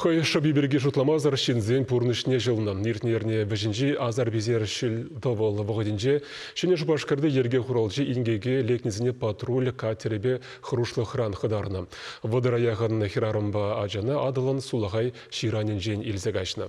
Хӑй шӑпи пирки шутламасӑр ҫынсен пурнӑҫне ҫӑлнӑ. Иртнӗ эрне вӗҫӗнчи Азербайджан ҫил тӑвӑл вӑхӑтӗнче Ҫӗнӗ Шупашкарти йӗрке хуралҫи инкеке лекнисене патруль катерӗпе хӑрушлӑхран хӑтарнӑ. Вӑтӑра яхӑн хӗрарӑмпа ачана Атӑлӑн сулахай ҫыранӗнчен илсе каҫнӑ.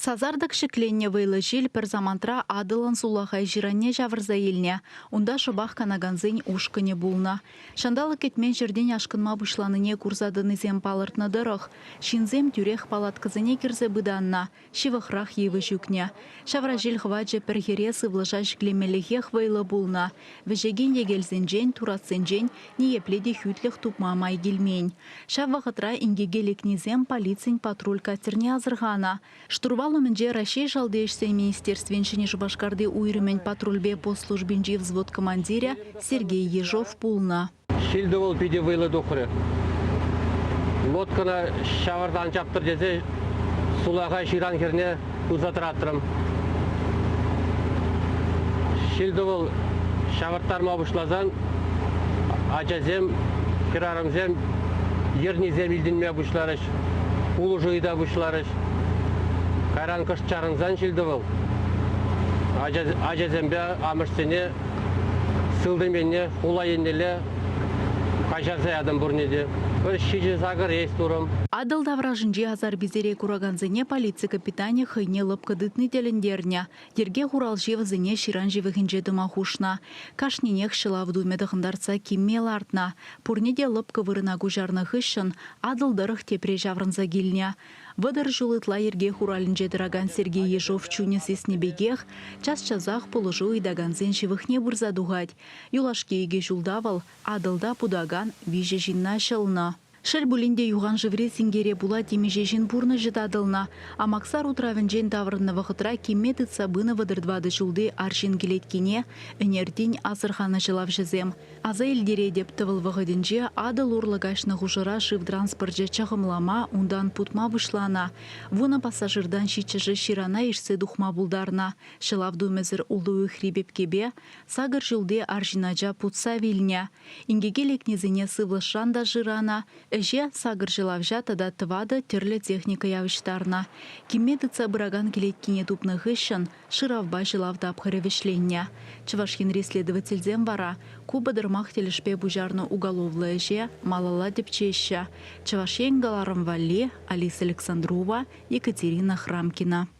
Сасартӑк ҫӗкленнӗ вӑйлӑ ҫил пӗр самантра Атӑлӑн сулахай ҫыранне ҫавӑрса илнӗ. Унта шӑпах канакансен ушкӑнӗ пулнӑ. Ҫанталӑк кӗтмен ҫӗртен ашкӑнма пуҫланине курса тӑнисем палӑртнӑ тӑрӑх, ҫынсем тӳрех палаткӑсене кӗрсе пытаннӑ, ҫывӑхрах йывӑҫ ӳкнӗ. Ҫавра ҫил хӑвачӗ пӗр хӗре сывлӑша ҫӗклемеллехех вӑйлӑ пулнӑ. Вӗҫекен йӗкелсенчен, туратсенчен ниепле те хӳтлӗх тупма май килмен. Ҫав вӑхӑтра инкеке лекнисем полицин патруль катерне асӑрханӑ. Штурвал умӗнче Раҫҫей Шалти ӗҫсен министерствин Ҫӗнӗ Шупашкарти уйрӑмӗн патрульпе пост службинчи взвод командирӗ Сергей Ежов пулнӑ. Ҫил-тӑвӑл питӗ вӑйлӑ тухрӗ. Лодкӑна ҫавӑрта ан чаптӑр тесе сулахай ҫыран хӗрне туса тӑратрӑм. Ҫил-тӑвӑл ҫавӑрттарма пуҫласан ачасем, хӗрарӑмсем йӗрнисем илтӗнме пуҫларӗҫ, пулӑшу ыйта пуҫларӗҫ. Кайран кӑшт чарӑнсан ҫил-тӑвӑл ачасемпе амӑшсене сылтӑм енне, хула еннелле Каҫарса ятӑм пурне те. Пӗр ҫичӗ сакӑр есть турӑм. Атӑл таврашӗнчи асар-писере куракансене полици капитанӗ хӑйне лӑпкӑ тытни тӗлӗнтернӗ. Йӗрке хуралҫи вӗсене ҫыран ҫывӑхӗнче тӑма хушнӑ. Кашнинех ҫӑлав тумӗ тӑхӑнтартса кимме лартнӑ. Пурне те лӑпкӑ вырӑна куҫарнӑ хыҫҫӑн Атӑл тӑрӑх тепре ҫаврӑнса килнӗ. Вӑтӑр ҫул ытла йӗрке хуралӗнче тӑракан Сергей Ешов чунӗ сиснӗ пекех, час-часах пулӑшу ыйтакансен ҫывӑхне пырса тухать, Юлашки икӗ ҫулта вӑл Атӑлта путакан виҫӗ ҫынна ҫӑлнӑ. Шел пулин те, юханшыври синкере пула темиҫе ҫын пурнӑҫӗ татӑлнӑ. Амаксар утравӗнчен таврӑннӑ вӑхӑтра кимме тытса пынӑ вӑтӑр тӑватӑ ҫулти арҫын кӗлеткине ӗнертин асӑрханӑ ҫӑлавҫӑсем. Аса илтеретӗп, тӑвӑл вӑхӑтӗнче Атӑл урлӑ каҫнӑ хушӑра шыв транспорчӗ чӑхӑмлама, унтан путма пуҫланӑ. Вунӑ пассажиртан ҫиччӗшӗ ҫырана ишсе тухма пултарнӑ. Ҫӑлав тумӗсӗр ултӑ уйӑхри пепкепе Сакӑр ҫулти арҫын ача путса вилнӗ. Инкеке лекнисене сывлӑшран та шыранӑ, ӗҫе сакӑр ҫӑлавҫа тата тӑватӑ тӗрлӗ техника явӑҫтарнӑ. Кимме тытса пыракан кӗлеткине тупнӑ хыҫҫӑн шыравпа ҫӑлав тапхӑрӗ вӗҫленнӗ. Чӑваш Енри следовательсем вара ку пӑтӑрмах тӗлӗшпе пуҫарнӑ уголовлӑ ӗҫе малалла тӗпчеҫҫӗ, Чӑваш Ен кӑларӑм валли Алиса Александрова, Екатерина Храмкина.